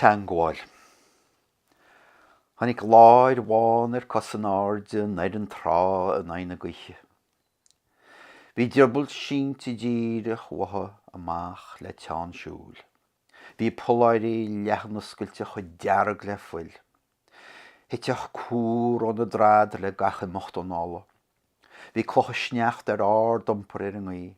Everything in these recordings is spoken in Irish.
teangmháil. Tháinig láir bhán ar cos in airde aniar an trá i n-aghaidh na gaoithe. Bhí a drioball sínte díreach uaithi amach le teann siúil. Bhí a polláirí leathanoscailte chomh dearg le fuil. Thiteadh cúr óna drad le gach imeacht anála. Bhí clocha sneachta ar ardiompar ar an ngaoith.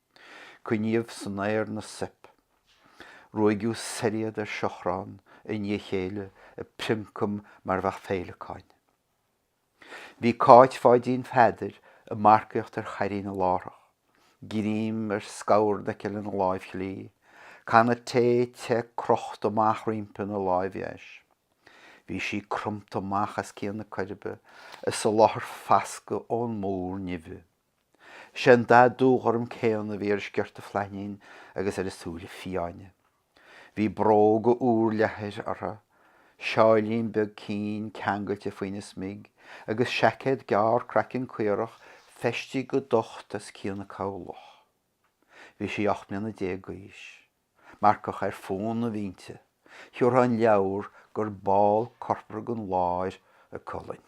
Coinníodh san aer na soip. Ruaigeadh soir iad ar seachrán i ndiaidh a chéile ag prioncam mar bheadh féileacáin. Bhí Cáit Pháidín Pheadair ag marcaíocht ar chairín na lárach, greim ar scamhardhoicill ina láimh chlí, canna tae te crochta amach roimpi ina láimh dheis. Bhí sí cromta amach as cionn na coirbe ag soláthar fascadh ón múr nimhe. Sé an dath dúghorm céanna a bhí ar a sciorta flainín agus ar a súile fiáine. Bhí bróga úrleathair uirthi, seáilín beag cinn ceangailte faoina smig agus seaicéad gearr craiceann caorach feistithe go docht as cionn a cabhlach. Bhí sí ocht mbliana déag d'aois. Marcach ar fónamh inti. Thiúrfá an leabhar gur ball corpartha den láir a colainn.